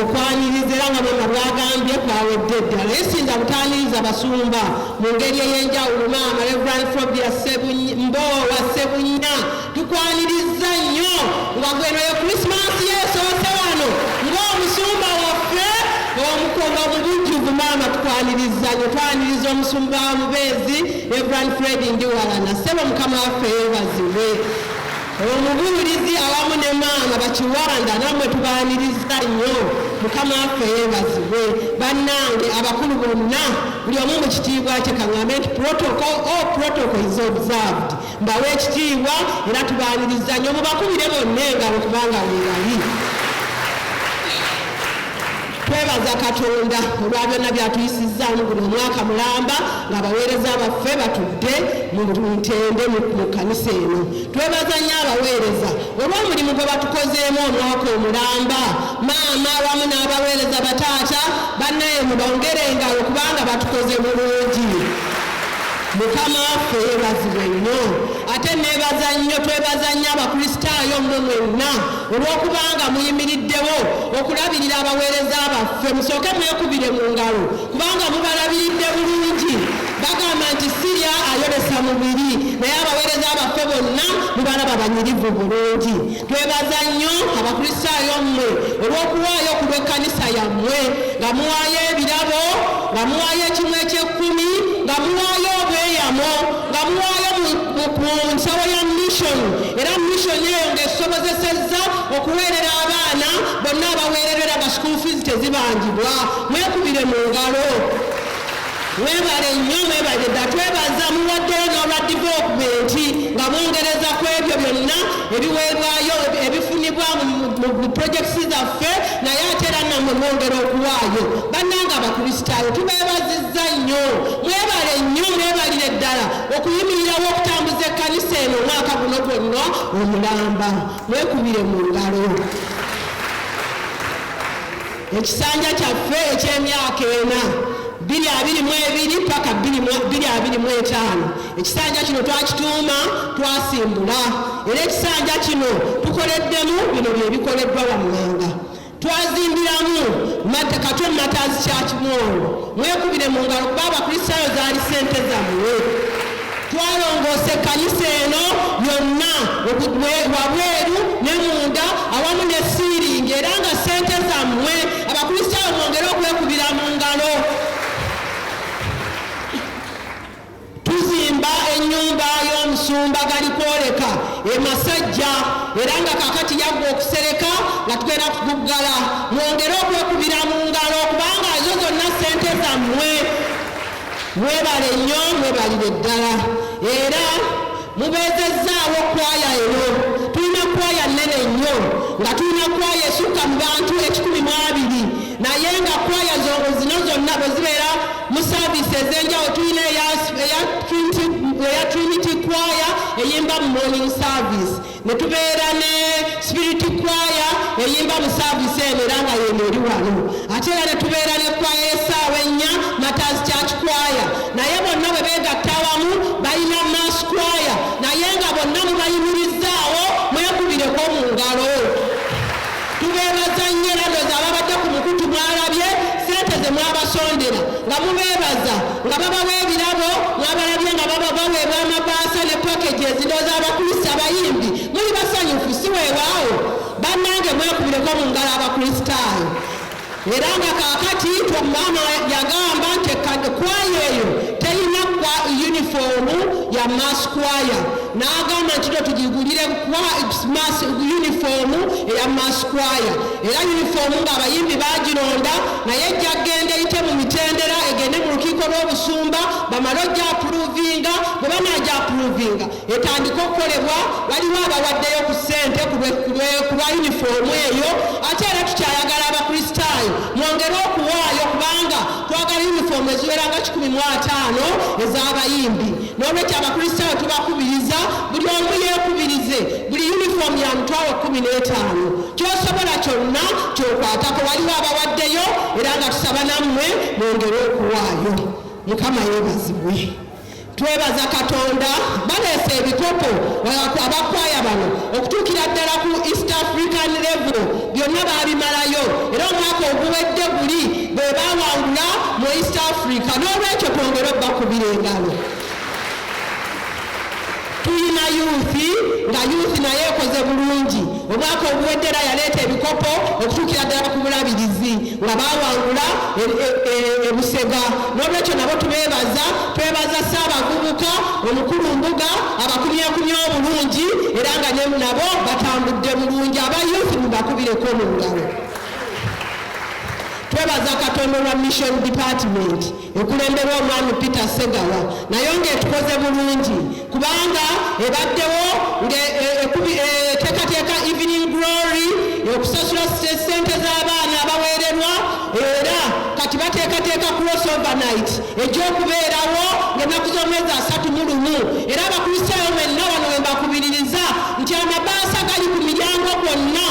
okwaniriza era nga bwema bwagambye kwawedde ddala naye sinza butaniriza basumba mu ngeri ey'enjawulo maama reverand fobia mboowa sebunya tukwaniriza nnyo nga gwenoyo krisimansi yesoose wano ng'omusumba waffe omukoga mu bujjuvu maama tukwaniriza nnyo twaniriza omusumba wa mubeezi reverand fred ndiwalana sebo mukama waffe yebazibwe Omubuulizi awamu ne maama bakiwanda namwe tubaaniriza nnyo mukama waffe yeebazibwe bannange abakulu bonna buli omu mu kitiibwa kye kaŋambe nti protocol o oh, protocol is observed mbawa ekitiibwa era tubaaniriza nnyo mubakubire bonna engalo kubanga weebali twebaza katonda olwa byonna byatuyisizzaamu guno omwaka mulamba ng'abaweereza baffe batudde mu ntende mu kkanisa eno Twebaza nnyo abaweereza olw'omulimu gwe batukozeemu omwaka omulamba. Maama wamu n'abaweereza bataata bannaye mubongere engalo kubanga batukoze bulungi. Mukama waffe yeebazibwe nnyo. Ate neebaza nnyo twebaza nnyo Abakristaayo mmwe mwenna olw'okubanga muyimiriddewo okulabirira abaweereza baffe. Musooke mwekubire mu ngalo kubanga mubalabiridde bulungi. Bagamba nti Siriya ayolesa mubiri, naye abaweereza baffe bonna mubalaba banyirivu bulungi. Twebaza nnyo Abakristaayo mmwe olw'okuwaayo ku lw'ekkanisa yammwe, nga muwaayo ebirabo, nga muwaayo ekimu eky'ekkumi, nga muwaayo obweyamo, nga muwaayo mu nsawo ya mission, era mission eyo ng'esobozesezza okuweerera abaana bonna abaweererwa era nga school fees tezibangibwa. Mwekubire mu ngalo. Mwebale nnyo mwebale dda twebaza muwaddeyo n'olwa divokubenti nga mwongereza ku ebyo byonna ebiweebwayo ebifunibwa mu purojekiti zaffe naye ate era nammwe mwongera okuwaayo bannanga abakristaayo tubeebazizza nnyo mwebale nnyo mwebalire ddala okuyimirirawo okutambuza ekkanisa eno omwaka guno gwonna omulamba mwekubire mu ngalo Ekisanja kyaffe eky'emyaka ena 222 paka 225 ekisanja kino twakituuma twasimbula era ekisanja kino tukoleddemu bino byebikoleddwa wammanga twazimbiramu kato matazi kyakimwongo mwekubire mu ngalo kuba abakristaayo zaali ssente zammwe Twalongoosa ekkanisa eno yonna wabweru ne munda awamu ne siiringi era nga ssente zammwe Abakristaayo mwongere okwekubira mu ngalo. Tuzimba ennyumba y'omusumba Galikwoleka e Masajja era nga kaakati yaggwa okusereka nga tugenda kuguggala. Mwongere okwekubira mu ngalo kubanga ezo zonna ssente zammwe. Mwebale nnyo mwebalire ddala era mubeezezzaawo kkwaaya eno. Tulina kkwaaya nnene nnyo nga tulina kkwaaya esukka mu bantu ekikumi mu abiri naye nga kkwaaya zino zonna bwe zibeera mu saaviisi ez'enjawulo tulina eya Trinity kkwaaya eyimba mu morning service ne tubeera ne sipiriti kwaya eyimba mu saavisi eno era nga yeno eri wano ate era ne tubeera ne kwaya esaawa ennya matazi church kwaya naye bonna bwe beegatta awamu balina mass kwaya naye nga bonna mubayimirizzaawo mwekubireko mu ngalo Tubeebaza nnyo era ndowooza ababadde ku mukutu mwalabye ssente ze mwabasondera nga mubeebaza nga babawa ebirabo mwabalabye nga baba baweebwa amabaasa ne packages ndowooza abakrisi abayimbi muli basanyufu si weewaawo bannange mwekubireko mu ngalo abakristaayo Era nga kaakati Twagamba yagamba nti ekkad kwaya eyo terina kwa yunifoomu ya Mass Kwaya n'agamba nti no tugigulire yunifoomu eya Mass Kwaya era yunifoomu ng'abayimbi bagironda naye ejja kugenda eyite mu mitendera egende mu lukiiko lw'obusumba bamale ogyapuruvinga bwe banaagyapuluvinga etandike okukolebwa waliwo abawaddeyo ku ssente ku lwa yunifoomu eyo ate era tukyayagala abakristaayo mwongere okuwaayo kubanga twagala yunifoomu eziwera nga 15 ez'abayimbi n'olwekyo abakristaayo tubakubiriza buli omu yeekubirize buli yunifoomu ya mutwalo 15 kyosobola kyonna kyokwatako waliwo abawaddeyo era nga tusaba nammwe mwongere okuwaayo mukama yeebazibwe Twebaza Katonda baleese ebikopo abakwaya bano okutuukira ddala ku East African level byonna baabimalayo era omwaka oguwedde guli bwe baawangula mu East Africa n'olwekyo twongere obakubira engalo. Tulina youth nga youth nayo ekoze bulungi. Omwaka oguwedde era yaleeta ebikopo okutuukira ddala ku Bulabirizi nga baawangula e, e, e, e Busega. N'olwekyo nabo tubeebaza, twebaza Ssaabavubuka omukulu Mbuga abakumyakumya obulungi era nga ne nabo batambudde bulungi. Aba youth mubakubireko mu ngalo. Twebaza Katonda olwa Mission Department. ekulemberwa Omwami Peter Ssegawa nayo ng'etukoze bulungi kubanga ebaddewo ng'eteekateeka e, e, Evening Glory okusasula ssente z'abaana abaweererwa era kati bateekateeka cross overnight egy'okubeerawo ng'ennaku z'omwezi asatu mu lumu era abakristaayo mwenna wano we mbakubiririza nti amabaasa gali ku miryango gwonna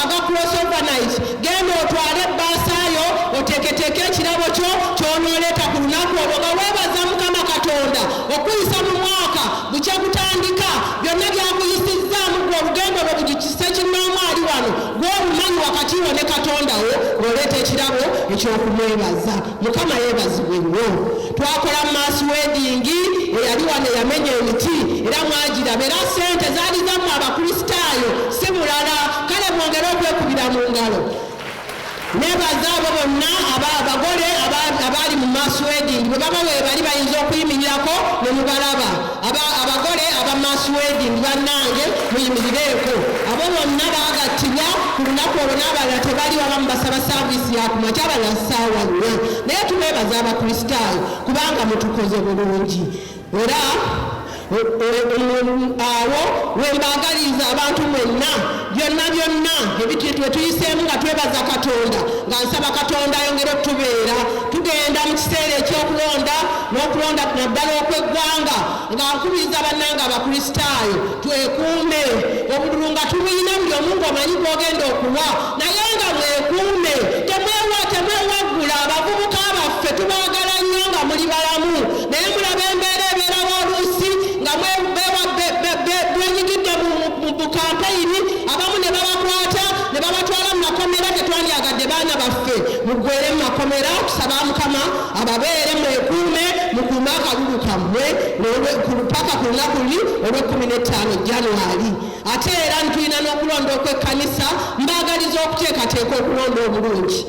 aga cross overnight Genda otwale ebbaasa yo oteeketeeke ekirabo kyo ky'onooleeta ku lunaku olwo nga weebaza Mukama Katonda okukuyisa mu mwaka bukya gutandika. Byonna by'akuyisizzaamu ggwe olugendo lwo bujukise kinnoomu ali wano gw'omumanyi wakati wo ne Katonda wo ng'oleeta ekirabo eky'okumwebaza. mukama yebazibwe nnyo twakola mu maaso wedingi eyali wano eyamenya emiti era mwagiraba era sente zaali zamu abakristaayo si mulala kale mwongere okwekubira mu ngalo nebaza abo bonna abagole abaali mu maaso wedingi bwe baba webali bayinza okuyimirirako ne mubalaba abagole aba mass wedding bannange muyimirireeko abo bonna bagattibwa ku lunaku olwo n'abalala tebali abamu basaba saaviisi yakumakya abalala ssaawa nnya naye tubeebaza abakristaayo kubanga mutukoze bulungi era awo wembaagaliza abantu mwenna Byonna byonna ebintu etuyiseemu nga twebaza Katonda nga nsaba Katonda ayongere okutubeera tugenda mu kiseera eky'okulonda n'okulonda naddala okw'eggwanga nga nkubiriza bannanga abakristaayo twekuume obululu nga tubuyina buli omu ng'omanyi gw'ogenda okuwa naye nga mwekuume temwewa temwewaggula abavubuka baffe tubaagala nnyo nga muli balamu naye mulaba embeera ebeerawo oluusi nga mwewa mu Bukampeyiri abamu ne babakwata ne babatwala mu makomera. Tetwandyagadde baana baffe muggweere mu makomera. Tusaba Mukama ababeere, mwekuume, mukuume akalulu kammwe paka ku lunaku luli olw'ekkumi n'ettaano January. Ate era tulina n'okulonda okw'ekkanisa. Mbaagaliza okuteekateeka okulonda obulungi.